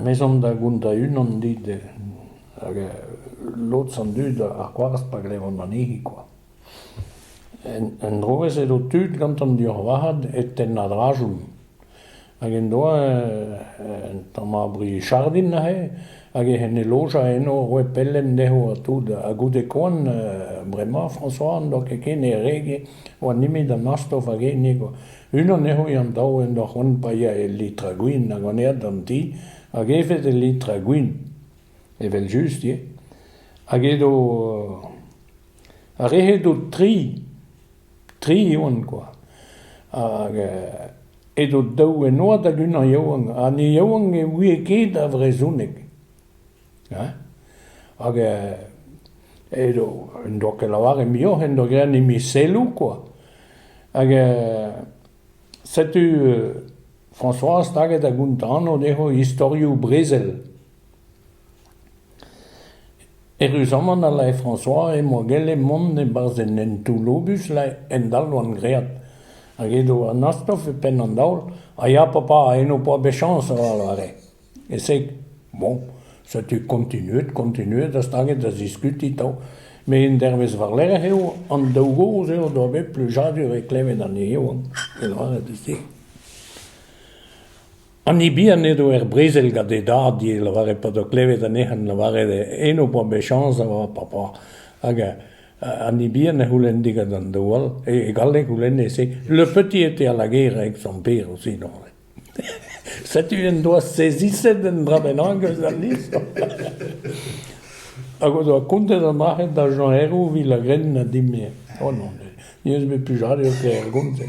Me zom da vont da-unan dit hag lod an dud a c'hoarzh pa glevont anezhi kwa. En-dro ez edo tud gantan dioc'h varc'had e tenn a-dra-chom. Hag en doa un tamm brichardin neuze, hag ec'h en e loja eno roet pelenn dezho ha tout. Ha goude koan, bremañ, François n'en doa ket ken e rege, oa nemet an astof hag hennezh quoi. Unan dezho eo an daou en doa c'hoant paeañ e litr a gwin hag an ead d'an ti, hag evet e litr a gwin, evel-just ivez. Hag edo... Ar re-se 'do tri, tri oant quoi. Hag Edo daou ennoad hag unan yaouank, ha an yaouank ne ouie ket ar vrezhoneg. Hein hag edo en doa ket lavaret muioc'h, en doa graet an emiselloù kwa. Hag setu François staget da gontano dezho istorioù brezel. Erruzamant a lae François e-moa gellet mont e-barzh un hentoù-lobus laer en dalc'hvan graet, hag edo Anastov e penn an daol ha ya papa, en ho-poa bet chañs avat, e-se bon, setu kontinuet, kontinuet ha staget da ziskuti 'to, met un dervezh war-lerc'h eo, an daou gozh eo o doa bet plujadur e klevet anezho, e lavaret e-se. An Ibian edo er brezel gant e dad e lavare pa doa klevet anezhan lavaret eno e oa bet chañs da oa papa. Hag an Ibian a c'houlenne gant an daou all, e galleg c'houlenne-se le petit était à la guerre avec son père aussi neuze. Setu en doa seziset un dra bennak eus al lizher. Hag o doa kontet ar marc'hed da Jean Herrou evit la grenn ha dim-me. Oh non, ne eus bet plijade o kaer gont-se.